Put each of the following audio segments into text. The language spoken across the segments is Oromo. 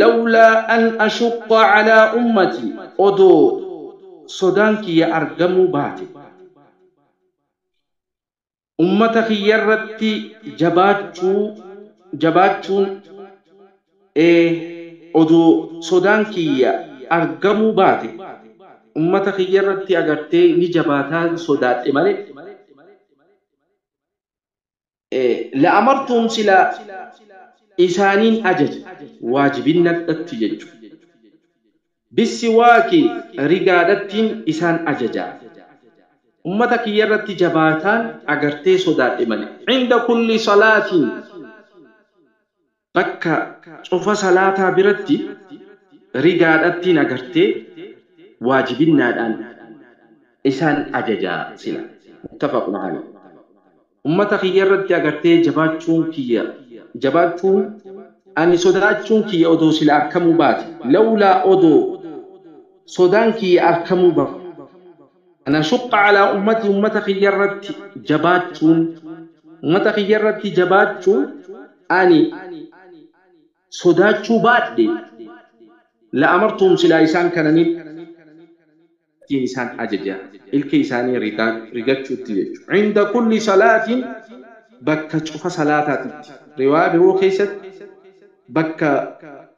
Lawlaa an ashuqqa calaa ummatii Odoo sodaan kiyya argamuu baate ummata kiyyarratti jabaachuu jabaachuun Odoo sodaan kiyya argamuu baate ummata kiyyarratti agartee ni jabaataan sodaadhe malee La'amartuhum silaa isaaniin ajaja waajibinnadhatti jechu. Bissiwaaki rigaadhattiin isaan ajaja. Ummata kiyyarratti jabaataan agartee sodaadhe malee. Inda kulli salaatin. Bakka cufa salaataa biratti rigaadhattiin agartee waajibinnaadhaan isaan ajaja sila. Muttafaqun aleyh. Ummata kiyyarratti agartee jabaachuun kiyya jabaachuun ani sodaachuun kiyya odoo sila arkamuu baate, lawlaa odoo sodaan kiyya arkamuu baate, an ashuqqa calaa ummatii ummata kiyya irratti jabaachuun ummata kiyya irratti jabaachuun ani sodaachuu baadhe la'amartuhum silaa isaan kana nin ittiin isaan ajaja ilkee isaanii rigaan rigachuutti jechu cinda kulli salaatin bakka cufa salaataatitti riwaayaa biroo keessatti bakka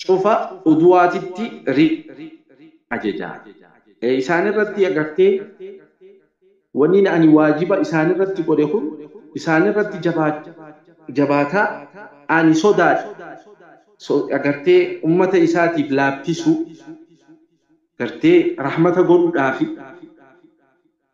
cufa uduwaatitti ri ajaja isaanirratti agartee wanni ani waajiba isaanirratti godhe kun isaanirratti jabaataa ani sodaadhe agartee ummata isaatiif laaffisuu gartee rahmata godhuudhaafi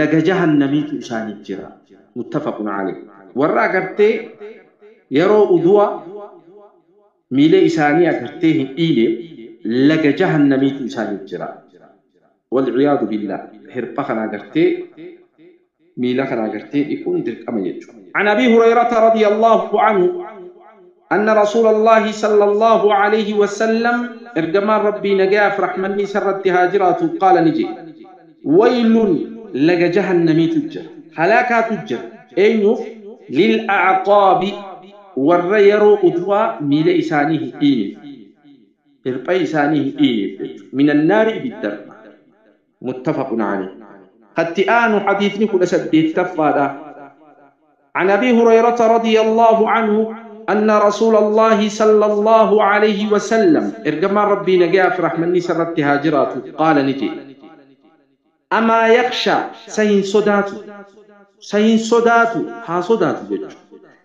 laga jahannamiitu isaaniif jira muttafaqun aleyh warra agartee yeroo uduwa miilee isaanii agartee hin dhiine laga jahannamiitu isaaniif jira walciyaadu billaah hirpha kana agartee miila kana agartee dhiquun dirqama jechu an abii hurayrata radiyallaahu anhu Anna Rasuulallaahi sallallaahu aleeyhi wasallam, Ergamaan Rabbii nagayaa fi rahmanni isa irratti haa jiraatu, qaala ni je'e, Waylun, laga jahannamiitu jira, halaakaatu jira, eenyuuf? Lil a'aqaabi, warra yeroo udu'aa miila isaanii hin dhiynef, hirpha isaanii hin dhiynef jechu, minan naari ibiddarraa. muttafaqun aleyh. Katti aanu hadiisni 18ffaadha. An Abii Hurayrata radiyallaahu anhu anna Rasuulallaahi sallallaahu aleyhi wa sallam, Ergamaan Rabbii nagayaa fi rahmanni isa irratti haa jiraatu, qaala ni je'e, Amaa yakhshaa, sa hin sodaatu, sa hin sodaatu, haa sodaatu jechu,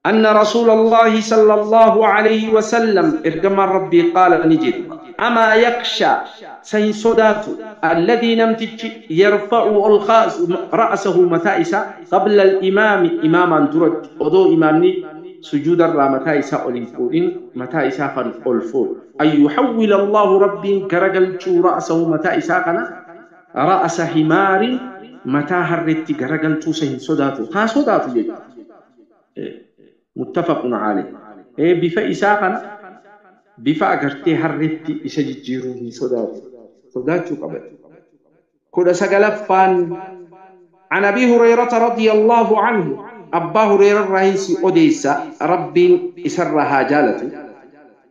Anna Rasuulallahi sallallahu aleyhi wa sallam ergamaan Rabbii qaala ni jedhe, Amaa yakshaa, sa hin sodaatu, alladhii namtichi yarfa'u ol kaasu ra'asahu mataa isaa qabla al-imaami imaamaan duratti odoo imaamni sujuudarraa mataa isaa ol hin fuudhin mataa isaa kan ol fuudhu an yuhawwila Allaahu Rabbiin garagalchuu ra'asahu mataa isaa kana ra'asa himaarin mataa harreetti garagalchuu sa hin sodaatu haa sodaatu jechuudha. muttafaqun aleyh. Ee bifa isaa kana bifa agartee harreetti isa jijjiiruu hin sodaatu, sodaachuu qaba. 19ffaan An Abii Hureyrata radiyallaahu anhu Abbaa Hureyrarraahin si odeeysa Rabbiin isarraa haa jaalatuu.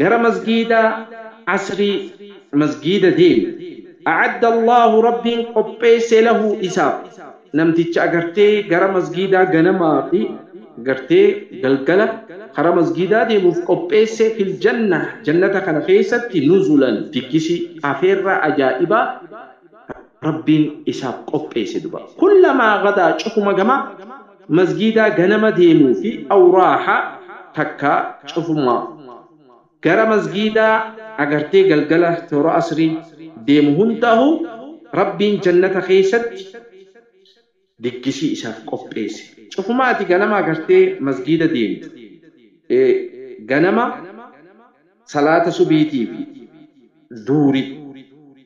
gara masgiida asrii masgiida deemi a'adda allaahu rabbiin qopheesse lahu isaaf namticha agartee gara masgiidaa ganamaa fi gartee galgala kara masgiidaa deemuuf qopheesse fil janna jannata kana keessatti nuzulan diggisii afeerraa ajaa'ibaa rabbiin isaaf qopheesse duba kullamaa gadaa cufuma gamaa masgiidaa ganama deemuu fi awraaha takka cufumaa gara masgiidaa agartee galgala toora asrii deemu hundaahu Rabbiin jannata keessatti diggisii isaaf qopheesse cufumaa ati ganama agartee masgiida deemtu ganama salaata subiitii fi duhrii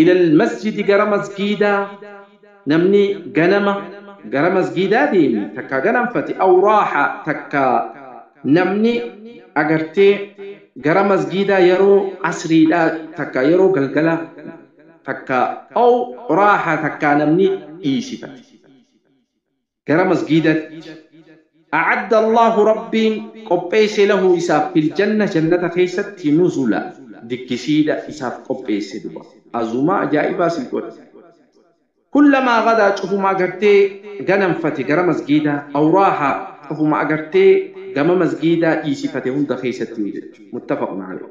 ilal masjidi gara masgiidaa namni ganama gara masgiidaa deeme takkaa ganamfate aw raaha takkaa namni agartee gara masgiidaa yeroo asriidhaa takkaa yeroo galgala takkaa aw raaha takkaa namni dhiisifate gara masgiidatti a'adda Allaahu Rabbiin qopheesse lahu isaaf fil janna jannata keessatti nuzula dikkisiidha isaaf qopheesse duba azumaa ajaa'ibaa sii godhe kullamaa gadaa cufuma agartee ganamfate gara masgiidaa aw raaha cufuma agartee gama masgiidaa dhiisifate hunda keessatti yoo jechu muttafaqun alayh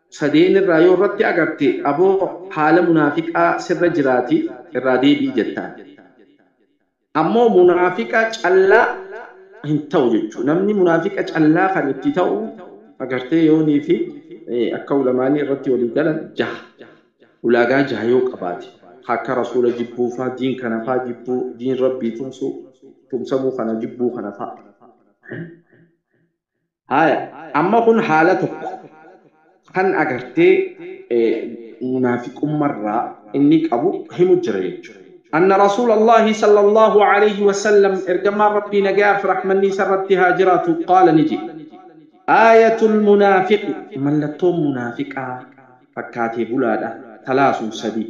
sadeen irraa yoo irratti agarte aboo haala munaafiqaa sirra jiraati irraa deebi'i jettaan. Ammoo munaafiqa callaa hin ta'u jechuu namni munaafiqa callaa kan itti ta'u agartee yoonii fi akka ulamaani irratti walii galan jaha ulaagaa jaha yoo qabaate ka akka rasuula jibbuu faa diin kana faa jibbuu diin rabbii tumsuu tumsamuu kana jibbuu kana faa. Haaya amma kun haala tokko kan agartee munaafiqummarraa inni qabu himu jira jechuudha. Anna Rasuulallahi sallallahu alayhi wa sallam ergamaan Rabbii nagaa fi rahmanni isa irratti haa jiraatu qaala ni jedhe. Aayatul munaafiqi mallattoon munaafiqaa fakkaatee bulaadha talaasun sadii.